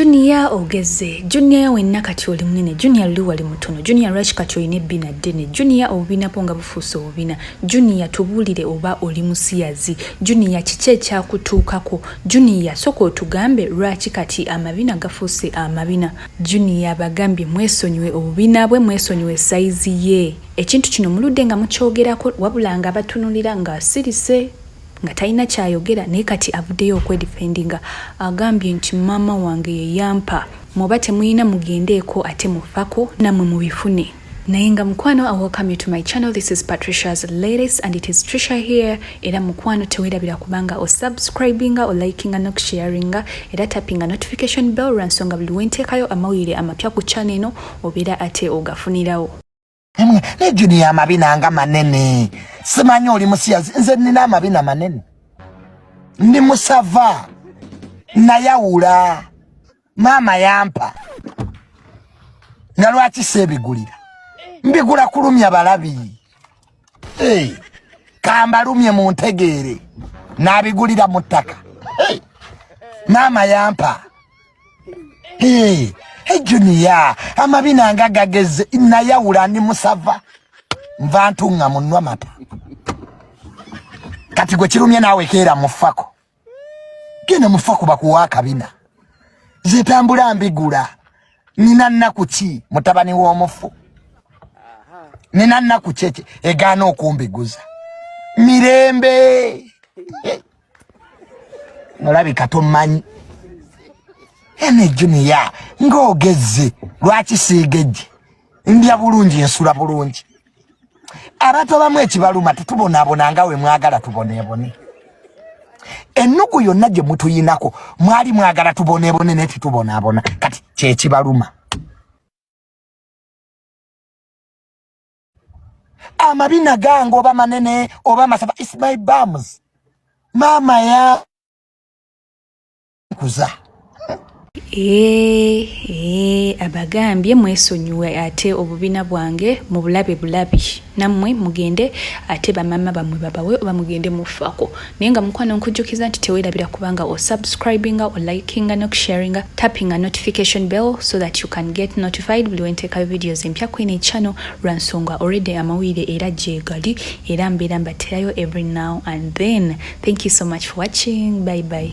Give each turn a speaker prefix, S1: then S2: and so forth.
S1: juniya ogeze juniya yawenna kati oli munene juniya luli wali mutono juniya lwaki kati olina ebbina ddene juniya obubinabwo nga bufuuse obubina juniya tubuulire oba oli musiyazi juniya kiki ekyakutuukako juniya soka otugambe lwaki kati amabina gafuuse amabina juniya bagambye mwesonyiwe obubina bwe mwesonyiwe sayizi ye ekintu kino muludde nga mukyogerako wabula nga abatunulira ng'asirise nga talina kyayogera naye kati avuddeyo okwedifendinga agambye nti maama wange yeyampa mwoba temuyina mugendeeko ate mufako namwe mubifune naye nga mukwano i welcome you to my channel this is patricia's latest and it is trisha here era mukwano tewerabira kubanga osubscribinga olikinga nokusharinga era tappinga notification bell lwansonga buli wenteekayo amawulire amapya ku channel eno obeera ate ogafunirawo Emwe ne
S2: junior amabina nga manene. Simanyi oli musiyazi nze nina amabina manene. Ndi musava. Nayawula. Mama yampa. Nga lwaki sebigulira. Mbigula kulumya balabi. Hey. Kambalumye mu ntegeere. Nabigulira mu ttaka. Hey. Mama yampa. Hey, hey junior, amabina nga gageze nayawula ndi musava nva ntunga munwa mata kati gwe kirumye naawe keera mufako genda mufako bakuwa akabina zitambula mbigula nina nnaku ki mutabani w'omufu nina nnaku kyeki egaana okumbiguza mirembe olabika tomanyi ene juniya ng'ogezze lwaki siigejje ndya bulungi nsula bulungi abantu abamu ekibaluma tetubonaabona nga we mwagala tuboneebone ennugu yonna gye mutuyinako mwali mwagala tuboneebone naye tetubonaabona kati kyekibaluma amabina gange oba manene oba masaba is my bums maama ya kuza Eee,
S1: eee, abagambye mwesonyiwe ate obubina bwange mu bulabe bulabi nammwe mugende ate bamama bammwe babawe oba mugende mufako naye nga mukwano nkujjukiza nti tewerabira kubanga osubscribinga olikinga nokusharinga tappinga notification bell so that you can get notified buli wenteekayo videos empya kwene channel lwa nsonga already amawulire era gyegali era mbeera mbaterayo every now and then thank you so much for watching bye bye